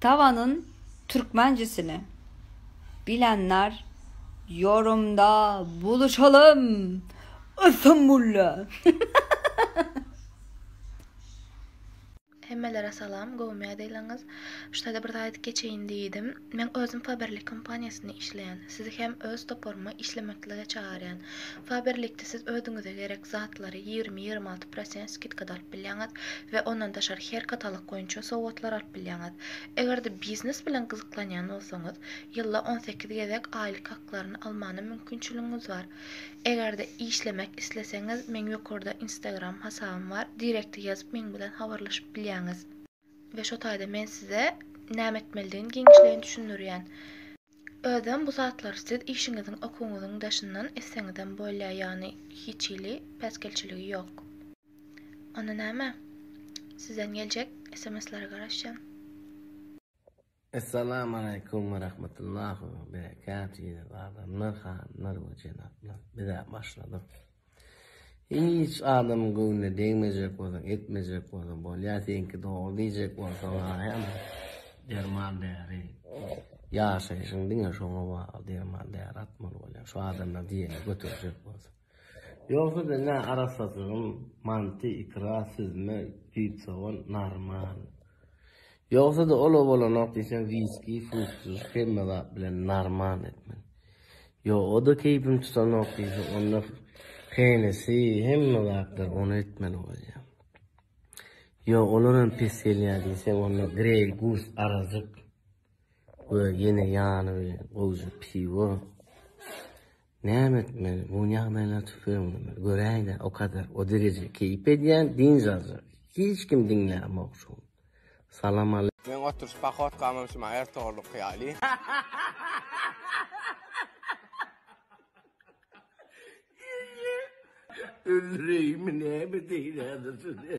Tavanyn türkmencisini bilenler yorumda buluşalym Istanbulda. Hemmelere salam, gowmy ýadaýlaryňyz? Şu taýda bir zat aýdyp geçeýin diýdim. Men özüm Faberlic kompaniýasynda işleýän. Sizi hem öz toparyma işlemeklige çagyrýan. Faberlic-de siz özüňize gerek zatlary ýigrimi, ýigrimi alty prosent skidkada alyp bilýäňiz we ondan daşary her katalog boýunça sowgatlar alyp bilýäňiz. Eger-de biznes bilen gyzyklanýan bolsaňyz, ýylda on sekiz gezek aýlyk haklaryny almana mümkinçiligiňiz bar. Eger-de işlemek isleseňiz, meň ýokarda Instagram hasabym bar, direkte ýazyp meň bilen habarlaşyp bilýäňiz. We şo taýda men size näme etmelidigini giňişleýin düşündirýän. Özem bu zatlary siz işiňiziň okuwyňyzyň daşyndan etseňizem bolýar ýagny hiç hili päsgelçiligi ýok. Onda näme? Sizden geljek sms-lere garaşýan. Essalamualeýkum we rahmetullahi we berekatuh adamlar hanymlar we jenaplar bizä başladyk hiç adamyň göwnüne degmejek bolsaň etmejek bolsaň bolýa seňki dogry diýjek bolsaň aýam derman däri ýaşaýşyň diňe şoňa bagly derman däri atmaly bolýa şu adamlar diýeni göterjek bolsaň Ýogsa-da nä arassasygyň, manty, ikra, süzme, düýp sogan, narman. Ýogsa-da ol-a bolanok diýseň wiski, fuskis, hemme zat bilen narman etmeli. Ýo, o-da keýpim tutanok diýse, onda Hennesi, hemme zatlar ony etmeli bolýar. Ýo, olaram pes gelýär diýseň, onda Greý Gus arajyk we ýene ýany bilen gowja piwo. Näme etmeli, bu ýagdaýlar tüpeňindemi, göräýdä, o kadar, o dereje keýp edýän, dynç aljak, hiç kim diňlämok şuň. Salam ale. Meň oturyş pohodkamam şuma ertogrulyky ýaly. Öldüreýinmi näme deýin häzir sizi.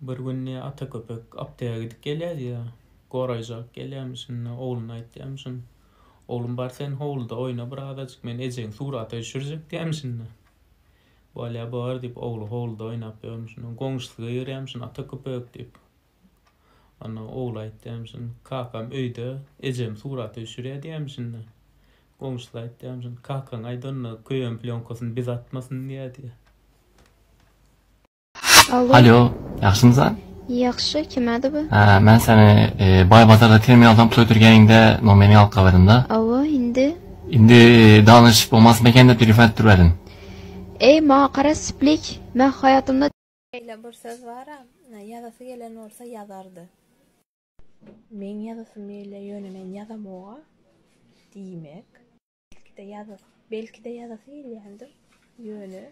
Bir günde ata köpek apteka gidip gelýärdi ýa goraýjak gelýärmiş şunda ogluna aýtýarmy şun oglum bar sen howluda oýna bir azajyk men ejeň surata üşürjek diýärmi şunda bolýa bar diýip ogly howluda oýnap ýörmüş şunda goňşusy geýirýärmi şun ata köpek diýip Onda ogly aýtýamşyn, Kakam öýde, ejem surat öçürýär diýemşin-de. Goňşusy aýtýamşyn, Kakaňa aýt onda, köýen plýonkasyny biz atmasyn diýer diýýär. Alo. Alýo, ýagşymysan? Ýagşy, kimädi bu? Hä, men seni Baýbazarda terminaldan pul ötürgeniňde nomerini alyp gaýbadym-da. Hawa, indi? Indi danyşyp bolmasmy eken diýip telefon edip dur welin. Eý, maňa gara, Splik, men haýatymda. Şeýle bir söz bar-a, Ýazasy gelen bolsa ýazardy. Meň ýazasym ýeli, ýöne men ýazamog-a. Diýmek. Belki-de ýazasy. Belki-de ýazasy gelýändir, ýöne.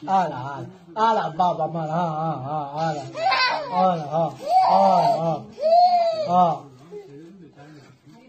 Ala, ala, ala, babam ala, ha, ha, ha, ala, ala, ha, ala, ha, ha.